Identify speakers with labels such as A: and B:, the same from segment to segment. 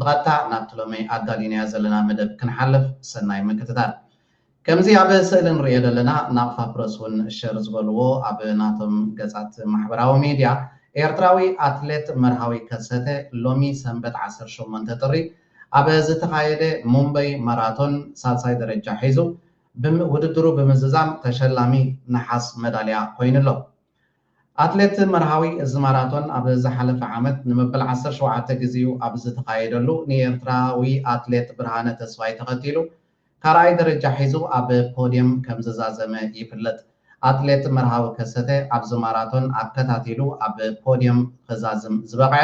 A: ብቐጥታ ናብቲ ሎሚ ኣዳሊናዮ ዘለና መደብ ክንሓልፍ ሰናይ ምክትታል። ከምዚ ኣብ ስእሊ ንርእዮ ዘለና ናቕፋ ፕረስ ውን ሸር ዝበልዎ ኣብ ናቶም ገጻት ማሕበራዊ ሚድያ ኤርትራዊ ኣትሌት መርሃዊ ከሰተ ሎሚ ሰንበት ዓሰርተ ሸሞንተ ጥሪ ኣብ ዝተኻየደ ሙምበይ ማራቶን ሳልሳይ ደረጃ ሒዙ ውድድሩ ብምዝዛም ተሸላሚ ነሓስ መዳልያ ኮይኑ ኣሎ። ኣትሌት መርሃዊ፣ እዚ ማራቶን ኣብ ዝሓለፈ ዓመት ንመበል ዓሰርተ ሸውዓተ ግዜኡ ኣብ ዝተኻየደሉ ንኤርትራዊ ኣትሌት ብርሃነ ተስፋይ ተኸቲሉ ካልኣይ ደረጃ ሒዙ ኣብ ፖድየም ከምዝዛዘመ ይፍለጥ። ኣትሌት መርሃዊ ከሰተ ኣብዚ ማራቶን ኣከታቲሉ ኣብ ፖድየም ኽዛዝም ዝበቕዐ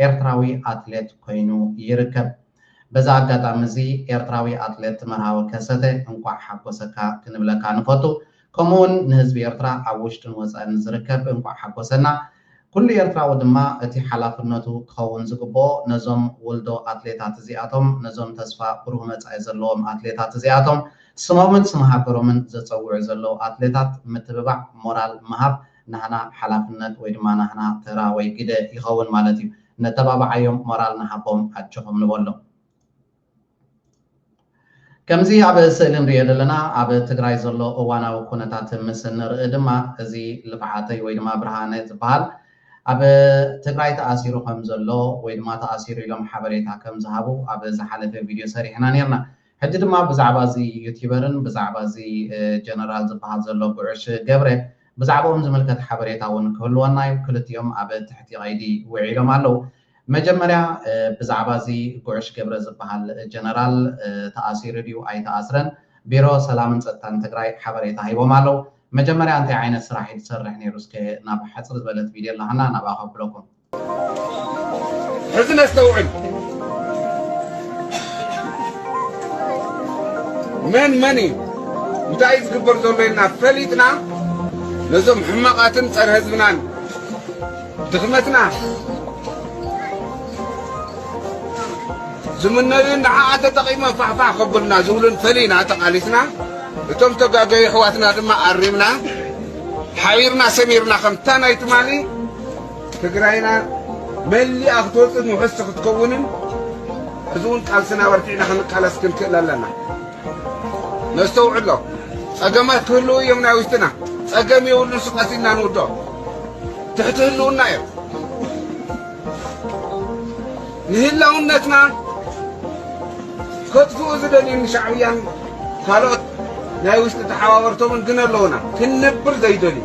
A: ኤርትራዊ ኣትሌት ኮይኑ ይርከብ። በዚ ኣጋጣሚ እዚ ኤርትራዊ ኣትሌት መርሃዊ ከሰተ እንቋዕ ሓጎሰካ ክንብለካ ንፈቱ ከምኡ ውን ንህዝቢ ኤርትራ ኣብ ውሽጥን ወጻእን ንዝርከብ እንቋዕ ሓጎሰና ኩሉ ኤርትራዊ ድማ እቲ ሓላፍነቱ ክኸውን ዝግብኦ ነዞም ውልዶ ኣትሌታት እዚኣቶም ነዞም ተስፋ ብሩህ መጻኢ ዘለዎም ኣትሌታት እዚኣቶም ስሞምን ስም ሃገሮምን ዘጸውዑ ዘለዉ ኣትሌታት ምትብባዕ ሞራል ምሃብ ናህና ሓላፍነት ወይ ድማ ናህና ተራ ወይ ግደ ይኸውን ማለት እዩ። ነተባብዓዮም ሞራል ንሃቦም ኣጆኹም ንበሎም። ከምዚ ኣብ ስእሊ ንርእዮ ዘለና ኣብ ትግራይ ዘሎ እዋናዊ ኩነታት ምስ ንርኢ ድማ እዚ ልፍዓተይ ወይ ድማ ብርሃነ ዝበሃል ኣብ ትግራይ ተኣሲሩ ከም ዘሎ ወይ ድማ ተኣሲሩ ኢሎም ሓበሬታ ከም ዝሃቡ ኣብ ዝሓለፈ ቪድዮ ሰሪሕና ኔርና። ሕጂ ድማ ብዛዕባ እዚ ዩቲበርን ብዛዕባ እዚ ጀነራል ዝበሃል ዘሎ ጉዕሽ ገብረ ብዛዕብኦም ዝምልከት ሓበሬታ ውን ክህልወና ዩ ክልቲኦም ኣብ ትሕቲ ቀይዲ ውዒሎም ኣለዉ መጀመርያ ብዛዕባ እዚ ጉዕሽ ገብረ ዝበሃል ጀነራል ተኣሲሩ ድዩ ኣይተኣስረን ቢሮ ሰላምን ጸጥታን ትግራይ ሓበሬታ ሂቦም ኣለዉ መጀመርያ እንታይ ዓይነት ስራሕ ዩ ዝሰርሕ ኔሩ እስከ ናብ ሓጽር ዝበለት ቪድዮ ኣላሃና ናብኣ ከብለኩም ሕዚ
B: ነስተውዕል መን መን እዩ እንታይ እዩ ዝግበር ዘሎ ኢልና ፈሊጥና ነዞም ሕማቓትን ጸረ ህዝብናን ድኽመትና ዝምነዩን ንዓኣ ተጠቒሞም ፋሕፋሕ ከብሉና ዝብሉን ፈሊና ተቓሊስና እቶም ተጋገዩ ኣሕዋትና ድማ ኣሪምና ሓቢርና ሰሚርና ከምታ ናይ ትማሊ ትግራይና መሊኣ ክትወፅእን ውሕስቲ ክትከውንን ሕዚ እውን ቃልስና ኣበርቲዕና ክንቃለስ ክንክእል ኣለና። ነስተውዕሎ ፀገማት ክህልው እዮም ናይ ውሽጥና ፀገም የብሉን ስቀስ ኢልና ንውድኦ ትሕቲ ህልውና እዮም ንህላውነትና ከጥፍኡ ዝደልዩን ሻዕብያን ካልኦት ናይ ውሽጢ ተሓባበርቶምን ግን ኣለውና ክንነብር ዘይደልዩ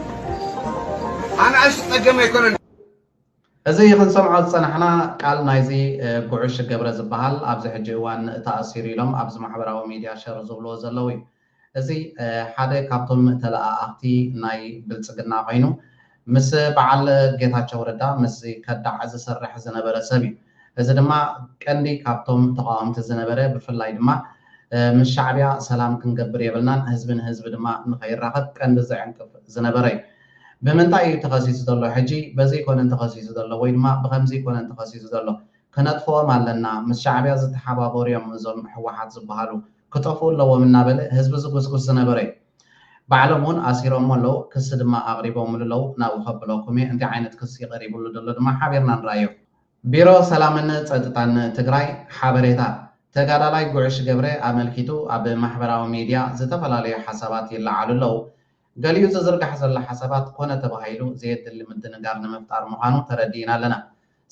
B: ኣናእሽቲ ጸገም
A: ኣይኮነን። እዚ ክንሰምዖ ዝጸናሕና ቃል ናይዚ ጉዕሽ ገብረ ዝበሃል ኣብዚ ሕጂ እዋን ተኣሲሩ ኢሎም ኣብዚ ማሕበራዊ ሚድያ ሸር ዝብልዎ ዘለዉ እዩ። እዚ ሓደ ካብቶም ተለኣኣኽቲ ናይ ብልጽግና ኮይኑ ምስ በዓል ጌታቸው ረዳ ምስዚ ከዳዕ ዝሰርሕ ዝነበረ ሰብ እዩ። እዚ ድማ ቀንዲ ካብቶም ተቓወምቲ ዝነበረ ብፍላይ ድማ ምስ ሻዕብያ ሰላም ክንገብር የብልናን ህዝቢ ንህዝቢ ድማ ንኸይራኸብ ቀንዲ ዝዕንቅፍ ዝነበረ እዩ። ብምንታይ እዩ ተኸሲሱ ዘሎ ሕጂ በዚ ኮነን ተኸሲሱ ዘሎ ወይ ድማ ብኸምዚ ኮነን ተኸሲሱ ዘሎ ከነጥፍኦም ኣለና ምስ ሻዕብያ ዝተሓባበሩ እዮም እዞም ህወሓት ዝበሃሉ ክጠፍኡ ኣለዎም እናበለ ህዝቢ ዝጉስጉስ ዝነበረ እዩ። ባዕሎም እውን ኣሲሮሞ ኣለዉ ክሲ ድማ ኣቕሪቦምሉ ኣለዉ ናብኡ ከብለኩም እየ እንታይ ዓይነት ክሲ ቀሪብሉ ዘሎ ድማ ሓቢርና ንርኣዮ። ቢሮ ሰላምን ፀጥታን ትግራይ ሓበሬታ ተጋዳላይ ጉዕሽ ገብሬ ኣመልኪቱ ኣብ ማሕበራዊ ሚድያ ዝተፈላለዩ ሓሳባት ይለዓሉ ኣለው። ገሊኡ ዝዝርጋሕ ዘሎ ሓሳባት ኮነ ተባሂሉ ዘየድሊ ምድንጋር ንምፍጣር ምዃኑ ተረዲእና ኣለና።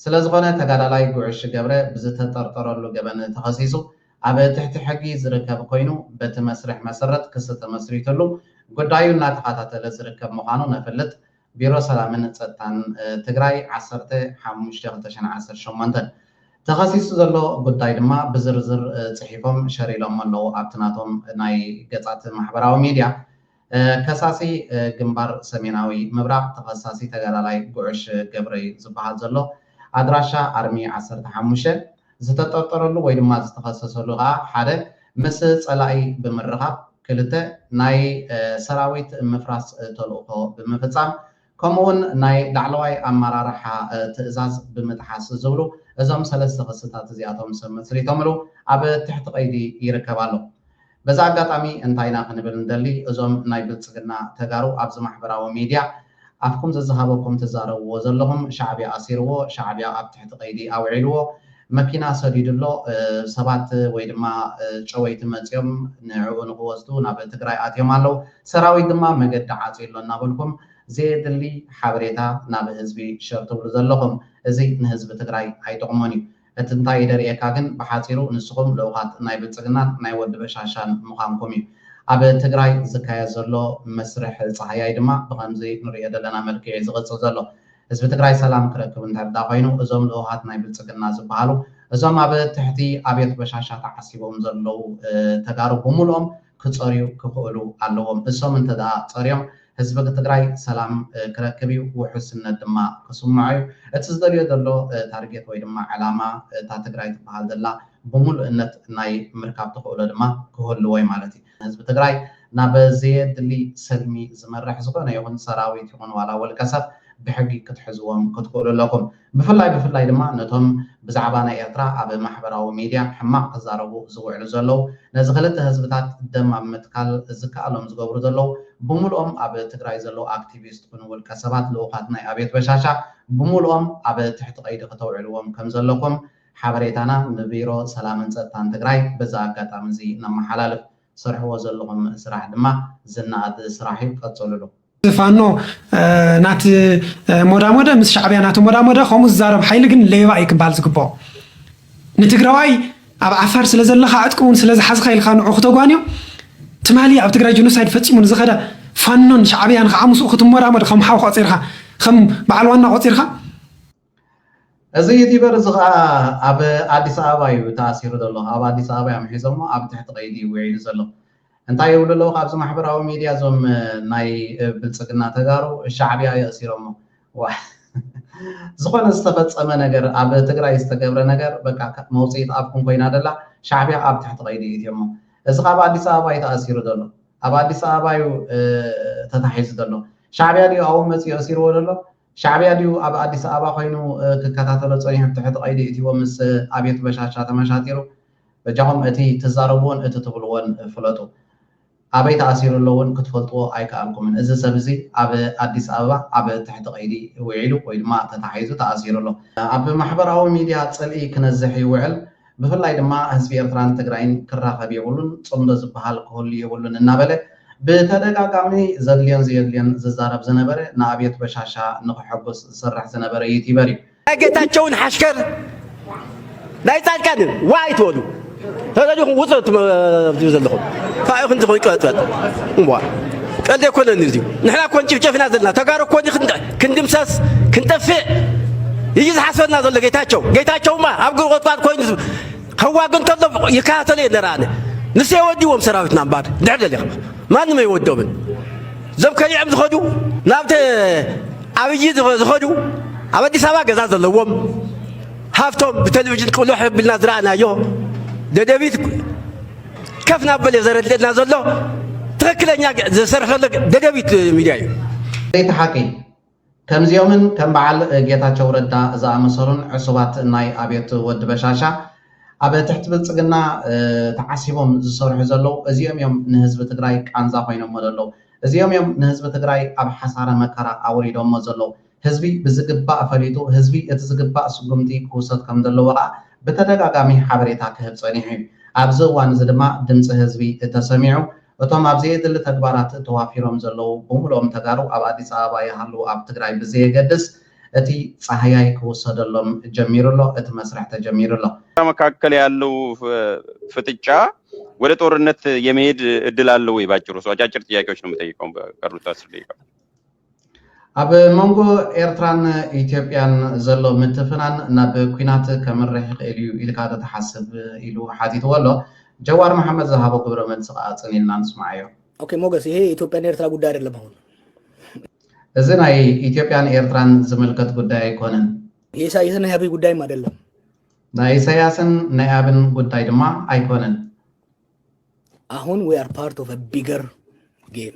A: ስለዝኾነ ተጋዳላይ ጉዕሽ ገብረ ብዝተጠርጠረሉ ገበን ተኸሲሱ ኣብ ትሕቲ ሕጊ ዝርከብ ኮይኑ በቲ መስርሕ መሰረት ክሲ ተመስሪቱሉ ጉዳዩ እናተኸታተለ ዝርከብ ምዃኑ ነፍልጥ። ቢሮ ሰላምን ፀጥታን ትግራይ ዓሰርተ ሓሙሽተ ክልተ ሽሕን ዓሰርተ ሸሞንተን ተኸሲሱ ዘሎ ጉዳይ ድማ ብዝርዝር ፅሒፎም ሸር ኢሎሞ ኣለው ኣብቲ ናቶም ናይ ገፃት ማሕበራዊ ሚድያ። ከሳሲ ግንባር ሰሜናዊ ምብራቕ ተኸሳሲ ተጋዳላይ ጉዕሽ ገብረ'ዩ ዝብሃል ዘሎ። ኣድራሻ ኣርሚ ዓሰርተ ሓሙሽተ፣ ዝተጠርጠረሉ ወይ ድማ ዝተኸሰሰሉ ከኣ ሓደ ምስ ጸላኢ ብምርኻብ፣ ክልተ ናይ ሰራዊት ምፍራስ ተልእኾ ብምፍጻም ከምኡ ውን ናይ ላዕለዋይ ኣመራርሓ ትእዛዝ ብምጥሓስ ዝብሉ እዞም ሰለስተ ክስታት እዚኣቶም ሰብ መስሪቶምሉ ኣብ ትሕቲ ቀይዲ ይርከብ ኣሎ። በዚ ኣጋጣሚ እንታይ ኢና ክንብል ንደሊ እዞም ናይ ብልጽግና ተጋሩ ኣብዚ ማሕበራዊ ሜድያ ኣፍኩም ዘዝሃበኩም ትዛረብዎ ዘለኹም ሻዕብያ ኣሲርዎ ሻዕብያ ኣብ ትሕቲ ቀይዲ ኣውዒልዎ መኪና ሰዲዱ ኣሎ ሰባት ወይ ድማ ጨወይቲ መጽዮም ንዕኡ ንኽወስዱ ናብ ትግራይ ኣትዮም ኣለዉ ሰራዊት ድማ መገዲ ዓጽዩ ኣሎ እናበልኩም ዘየድሊ ሓበሬታ ናብ ህዝቢ ሸር ትብሉ ዘለኹም እዚ ንህዝቢ ትግራይ ኣይጠቕሞን እዩ እቲ እንታይ ይደርየካ ግን ብሓጺሩ ንስኹም ልኡኻት ናይ ብልጽግናን ናይ ወዲ በሻሻን ምዃንኩም እዩ። ኣብ ትግራይ ዝካየድ ዘሎ መስርሕ ጸሃያይ ድማ ብኸምዚ ንርእዮ ዘለና መልክዕ እዩ ዝቕጽል ዘሎ። ህዝቢ ትግራይ ሰላም ክረክብ እንተድኣ ኮይኑ እዞም ልኡኻት ናይ ብልጽግና ዝበሃሉ እዞም ኣብ ትሕቲ ኣብዮት በሻሻ ተዓሲቦም ዘለዉ ተጋሩ ብምሉኦም ክፀርዩ ክኽእሉ ኣለዎም። እሶም እንተድኣ ፀርዮም ህዝቢ ትግራይ ሰላም ክረክብ እዩ፣ ውሑስነት ድማ ክስምዖ እዩ። እቲ ዝደልዮ ዘሎ ታርጌት ወይ ድማ ዕላማ እታ ትግራይ ትብሃል ዘላ ብሙሉእነት ናይ ምርካብ ተኽእሎ ድማ ክህልዎ እዩ ማለት እዩ። ህዝቢ ትግራይ ናብ ዘየድሊ ሰልሚ ዝመርሕ ዝኾነ ይኹን ሰራዊት ይኹን ዋላ ውልቀ ሰብ ብሕጊ ክትሕዝዎም ክትኽእሉ ኣለኩም። ብፍላይ ብፍላይ ድማ ነቶም ብዛዕባ ናይ ኤርትራ ኣብ ማሕበራዊ ሚድያ ሕማቕ ክዛረቡ ዝውዕሉ ዘለዉ ነዚ ክልተ ህዝብታት ደም ኣብ ምትካል ዝከኣሎም ዝገብሩ ዘለዉ ብሙሉኦም ኣብ ትግራይ ዘለዉ ኣክቲቪስት ኩኑ ውልቀ ሰባት ልኡኻት ናይ ኣብዮት በሻሻ ብሙሉኦም ኣብ ትሕቲ ቀይዲ ክተውዕልዎም ከም ዘለኩም ሓበሬታና ንቢሮ ሰላምን ጸጥታን ትግራይ በዚ ኣጋጣሚ እዚ ነመሓላልፍ። ትሰርሕዎ ዘለኹም ስራሕ ድማ ዝነኣድ ስራሕ ዩ ቀፅልሉ። ፋኖ
C: ናቲ ሞዳሞደ ምስ ሻዕብያ ናቲ ሞዳሞደ ከምኡ ዝዛረብ ሓይሊ ግን ሌባ እዩ ክበሃል ዝግብኦ ንትግራዋይ ኣብ ዓፋር ስለ ዘለኻ ዕጥቂ እውን ስለ ዝሓዝኻ ኢልካ ንዑ ክተጓንዮ ትማሊ ኣብ ትግራይ ጀኖሳይድ ፈፂሙ ንዝኸደ ፋኖን ሻዕብያን ከዓ ምስኡ ክትሞዳሞድ ከም ሓው ቆፂርካ ከም በዓል ዋና ቆፂርካ
A: እዚ ዩቲበር እዚ ከዓ ኣብ ኣዲስ ኣበባ እዩ ተኣሲሩ ዘሎ ኣብ ኣዲስ ኣበባ እዮም ሒዞሞ ኣብ ትሕቲ ቀይዲ እዩ ውዒሉ ዘሎ እንታይ ይብሉ ኣለዉ ካብዚ ማሕበራዊ ሚድያ እዞም ናይ ብልፅግና ተጋሩ ሻዕብያ የእሲሮሞ ዝኾነ ዝተፈፀመ ነገር ኣብ ትግራይ ዝተገብረ ነገር በቃ መውፅኢት ኣብኩም ኮይና ደላ ሻዕብያ ኣብ ትሕቲ ቀይዲ እትዮሞ እዚ ካብ ኣዲስ ኣበባ እዩ ተኣሲሩ ዘሎ ኣብ ኣዲስ ኣበባ እዩ ተታሒዙ ዘሎ ሻዕብያ ድዩ ኣብኡ መፅኡ የእሲርዎ ዘሎ ሻዕብያ ድዩ ኣብ ኣዲስ ኣበባ ኮይኑ ክከታተሎ ጸኒሑ ትሕቲ ቀይዲ የእቲዎም ምስ ኣብዮት በሻሻ ተመሻጢሩ በጃኹም እቲ ትዛረብዎን እቲ ትብልዎን ፍለጡ ኣበይ ተኣሲሩ ኣሎ ውን ክትፈልጥዎ ኣይከኣልኩምን እዚ ሰብ እዚ ኣብ ኣዲስ ኣበባ ኣብ ትሕቲ ቀይዲ ዊዒሉ ወይ ድማ ተታሒዙ ተኣሲሩ ኣሎ ኣብ ማሕበራዊ ሚድያ ጽልኢ ክነዝሕ ይውዕል ብፍላይ ድማ ህዝቢ ኤርትራን ትግራይን ክራኸብ የብሉን፣ ጽምዶ ዝበሃል ክህሉ የብሉን እናበለ ብተደጋጋሚ ዘድልዮን ዘየድልዮን ዝዛረብ ዝነበረ ንኣብዮት በሻሻ ንኸሐጉስ ዝሰርሕ ዝነበረ ዩቲበር እዩ። ናይ ጌታቸውን
D: ሓሽከር ናይ ጻድቃንን ዋ ኣይትበሉ ተደሊኹም ውፅ ትብሉ ዘለኹም ካባኡ ክንዲ ኮይኑ ቀጥበጥ እምቧ ቀልዲ ኣይኮነን እዚዩ ንሕና ኮን ጭፍጨፍና ዘለና ተጋሩ ኮን ክንድምሰስ ክንጠፍእ እዩ ዝሓስበና ዘሎ ጌታቸው። ጌታቸውማ ኣብ ጉርቆጥቋጥ ኮይኑ ከዋግ እንከሎ ይከታተሎ እየ ነረ ኣነ ንሱ የወዲዎም ሰራዊትና እምበር ድሕር ደሊኻ ማንም ኣይወዶምን። እዞም ከሊዕም ዝኸዱ ናብቲ ኣብይ ዝኸዱ ኣብ ኣዲስ ኣበባ ገዛ ዘለዎም ሃብቶም ብቴሌቪዥን ቅሉሕ ብልና ዝረኣናዮ ደደቢት ከፍ ናበለ እዩ ዘረድእና ዘሎ ትክክለኛ ዝሰርሕ ዘሎ ደደቢት ሚድያ እዩ ለይቲ ሓቂ
A: ከምዚኦምን ከም በዓል ጌታቸው ረዳ ዝኣመሰሉን ዕሱባት ናይ ኣብዮት ወዲ በሻሻ ኣብ ትሕቲ ብልፅግና ተዓሲቦም ዝሰርሑ ዘለዉ እዚኦም እዮም ንህዝቢ ትግራይ ቃንዛ ኮይኖሞ ዘለዉ እዚኦም እዮም ንህዝቢ ትግራይ ኣብ ሓሳረ መከራ ኣውሪዶሞ ዘለዉ ህዝቢ ብዝግባእ ፈሊጡ ህዝቢ እቲ ዝግባእ ስጉምቲ ክውሰድ ከምዘለዎ ከኣ ብተደጋጋሚ ሓበሬታ ክህብ ጸኒሑ እዩ። ኣብዚ እዋን እዚ ድማ ድምጺ ህዝቢ ተሰሚዑ እቶም ኣብ ዘየድሊ ተግባራት ተዋፊሮም ዘለዉ ብምሉኦም ተጋሩ ኣብ ኣዲስ ኣበባ ይሃልዉ ኣብ ትግራይ ብዘየገድስ እቲ ጻህያይ ክውሰደሎም ጀሚሩ ኣሎ፣ እቲ መስርሕ ተጀሚሩ ኣሎ። መካከል ያለው
E: ፍጥጫ ወደ ጦርነት የመሄድ እድል አለ ወይ? ባጭሩ ሰው አጫጭር ጥያቄዎች ነው የምጠይቀው በቀሩት አስር ደቂቃ።
A: ኣብ መንጎ ኤርትራን ኢትዮጵያን ዘሎ ምትፍናን ናብ ኲናት ከምርሕ ይኽእል እዩ ኢልካ ዶ ትሓስብ? ኢሉ ሓቲትዎ ኣሎ። ጀዋር መሓመድ ዝሃቦ ግብረ መልሲ ከኣ ጽን ኢልና ንስምዓዮ። ኦኬ ሞገስ ይሄ
F: የኢትዮጵያና ኤርትራ ጉዳይ ኣደለም ኣሁን።
A: እዚ ናይ ኢትዮጵያን ኤርትራን ዝምልከት ጉዳይ ኣይኮነን። የኢሳይስን ናይ ኣብይ
F: ጉዳይም ኣደለም።
A: ናይ ኢሳያስን ናይ ኣብን ጉዳይ ድማ ኣይኮነን።
F: ኣሁን ዊ ኣር ፓርት ኦፍ ቢገር ጌም።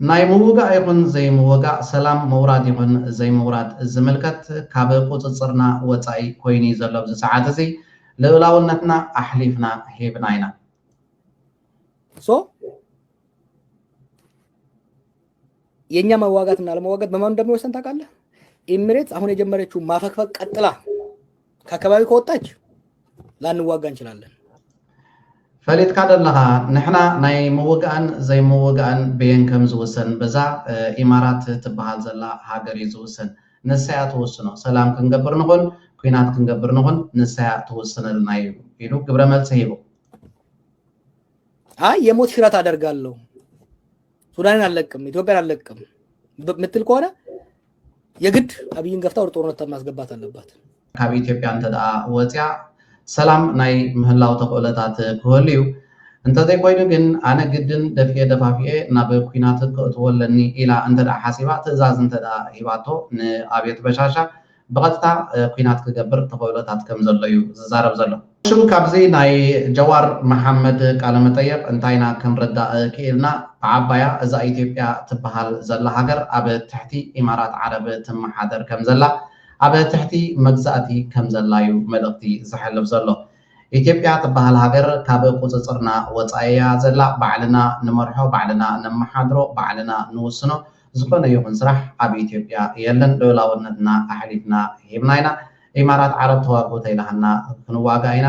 F: ናይ ምውጋእ ይኹን ዘይምውጋእ፣ ሰላም ምውራድ ይኹን ዘይምውራድ ዝምልከት ካብ ቁጽጽርና ወጻኢ ኮይኑ'ዩ ዘሎ ኣብዚ ሰዓት እዚ። ልኡላውነትና ኣሕሊፍና ሂብና ኢና። ሶ የኛ መዋጋትና ኣለመዋጋት በማን እንደሚወሰን ታውቃለህ? ኢሚሬትስ አሁን የጀመረችው ማፈግፈግ ቀጥላ ከከባቢ ከወጣች ላንዋጋ እንችላለን። ፈሊጥካ ዶ ኣለኻ ንሕና ናይ ምውጋእን ዘይምውጋእን ብየን ከም ዝውሰን በዛ ኢማራት ትብሃል ዘላ ሃገር እዩ ዝውሰን ንሳያ ትውስኖ ሰላም ክንገብር ንኹን ኩናት ክንገብር ንኹን ንሳያ ትውስነልና እዩ ኢሉ ግብረ መልሲ ሂቡ አይ የሞት ሽረት አደርጋለሁ ሱዳንን አልለቅም ኢትዮጵያን አልለቅም ብ- ምትል ከሆነ የግድ ኣብይን ገፍታ ወደ ጦርነት ማስገባት ኣለባት። ካብ ኢትዮጵያ
A: እንተድኣ ወጽያ ሰላም ናይ ምህላው ተኽእሎታት ክህሉ እዩ። እንተዘይኮይኑ ግን ኣነ ግድን ደፊኤ ደፋፊኤ ናብ ኩናት ከእትዎ ኣለኒ ኢላ እንተድኣ ሓሲባ ትእዛዝ እንተድኣ ሂባቶ ንኣብዮት በሻሻ ብቐጥታ ኩናት ክገብር ተኽእሎታት ከምዘሎ እዩ ዝዛረብ ዘሎ። ሽም ካብዚ ናይ ጀዋር መሓመድ ቃለ መጠየቅ እንታይ ኢና ክንርዳእ ኪኢልና ብዓባያ እዛ ኢትዮጵያ ትብሃል ዘላ ሃገር ኣብ ትሕቲ ኢማራት ዓረብ ትመሓደር ከም ዘላ ኣብ ትሕቲ መግዛእቲ ከም ዘላ ዩ መልእክቲ ዘሕልፍ ዘሎ ኢትዮጵያ ትብሃል ሃገር ካብ ቁጽጽርና ወጻኢ እያ ዘላ ባዕልና ንመርሖ ባዕልና ነመሓድሮ ባዕልና ንውስኖ ዝኾነ ይኹን ስራሕ ኣብ ኢትዮጵያ የለን ልኡላውነትና ኣሕሊፍና ሂብና ኢና ኢማራት ዓረብ ተዋግኡ ተይላሃና ክንዋጋእ ኢና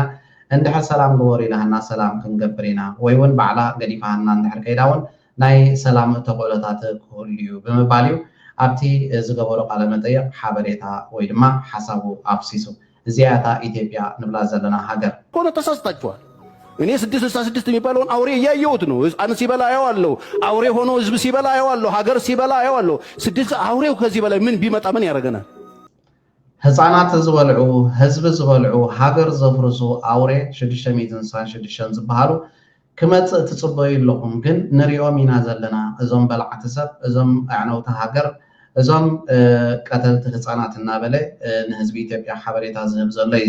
A: እንድሕር ሰላም ግበሩ ኢላሃና ሰላም ክንገብር ኢና ወይ ውን ባዕላ ገዲፋሃና እንድሕር ከይዳ ውን ናይ ሰላም ተኽእሎታት ክህሉ ዩ ብምባል ዩ ኣብቲ ዝገበሮ ቃለ መጠይቕ ሓበሬታ ወይ ድማ ሓሳቡ ኣፍሲሱ እዚኣ እያ እታ ኢትዮጵያ ንብላ ዘለና ሃገር። ሆኖ ተሳስታችኋል
G: እኔ ስድስት ስልሳ ስድስት የሚባለውን አውሬ እያየሁት ነው። ህፃን ሲበላ አየዋለሁ። አውሬ ሆኖ ህዝብ ሲበላ አየዋለሁ። ሀገር ሲበላ አየዋለሁ። ስድስት አውሬው ከዚህ በላይ ምን ቢመጣ ምን ያደርገናል?
A: ህጻናት ዝበልዑ፣ ህዝቢ ዝበልዑ፣ ሃገር ዘፍርሱ ኣውሬ ሽዱሽተ ሚእትን ዕስራን ሽዱሽተን ዝበሃሉ ክመጽእ ትጽበዩ ኣለኹም ግን ንሪኦም ኢና ዘለና እዞም በላዕቲ ሰብ እዞም ኣዕነውቲ ሃገር እዞም ቀተልቲ ህጻናት እናበለ ንህዝቢ ኢትዮጵያ ሓበሬታ ዝህብ ዘሎ እዩ።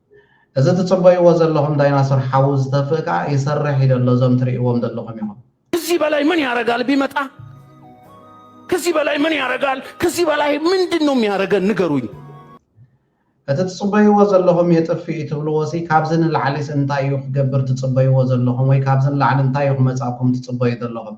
A: እዚ ትጽበይዎ ዘለኹም ዳይናሶር ሓዊ ዝተፍእ ከኣ ይሰርሕ እዩ ዘሎ እዞም ትርእይዎም ዘለኹም ኢኹም። ክዚ በላይ ምን
G: ያረጋል ቢመጣ ክዚ በላይ ምን ያረጋል ክዚ በላይ ምንድን ነው የሚያረገን ንገሩኝ።
A: እቲ ትጽበይዎ ዘለኹም የጥፍእ እዩ ትብልዎሲ ካብዚ ንላዕሊስ እንታይ እዩ ክገብር ትጽበይዎ ዘለኹም ወይ ካብዚ ንላዕሊ እንታይ እዩ ክመጻኩም ትጽበዩ ዘለኹም።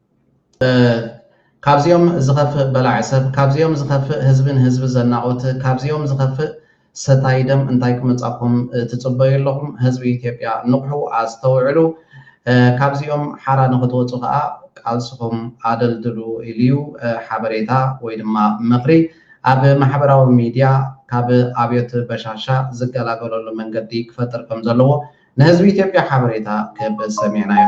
A: ካብዚኦም ዝኸፍእ በላዒ ሰብ፣ ካብዚኦም ዝኸፍእ ህዝቢ ንህዝቢ ዘናቑት፣ ካብዚኦም ዝኸፍእ ሰታዪ ደም እንታይ ክመጻኩም ትጽበዩ ኣለኹም? ህዝቢ ኢትዮጵያ ንቕሑ፣ ኣስተውዕሉ፣ ካብዚኦም ሓራ ንኽትወጹ ከኣ ቃልስኹም ኣደልድሉ ኢሉ'ዩ ሓበሬታ ወይ ድማ ምኽሪ ኣብ ማሕበራዊ ሚድያ ካብ ኣብዮት በሻሻ ዝገላገለሉ መንገዲ ክፈጥር ከምዘለዎ ንህዝቢ ኢትዮጵያ ሓበሬታ ክህብ ሰሚዕናዮ።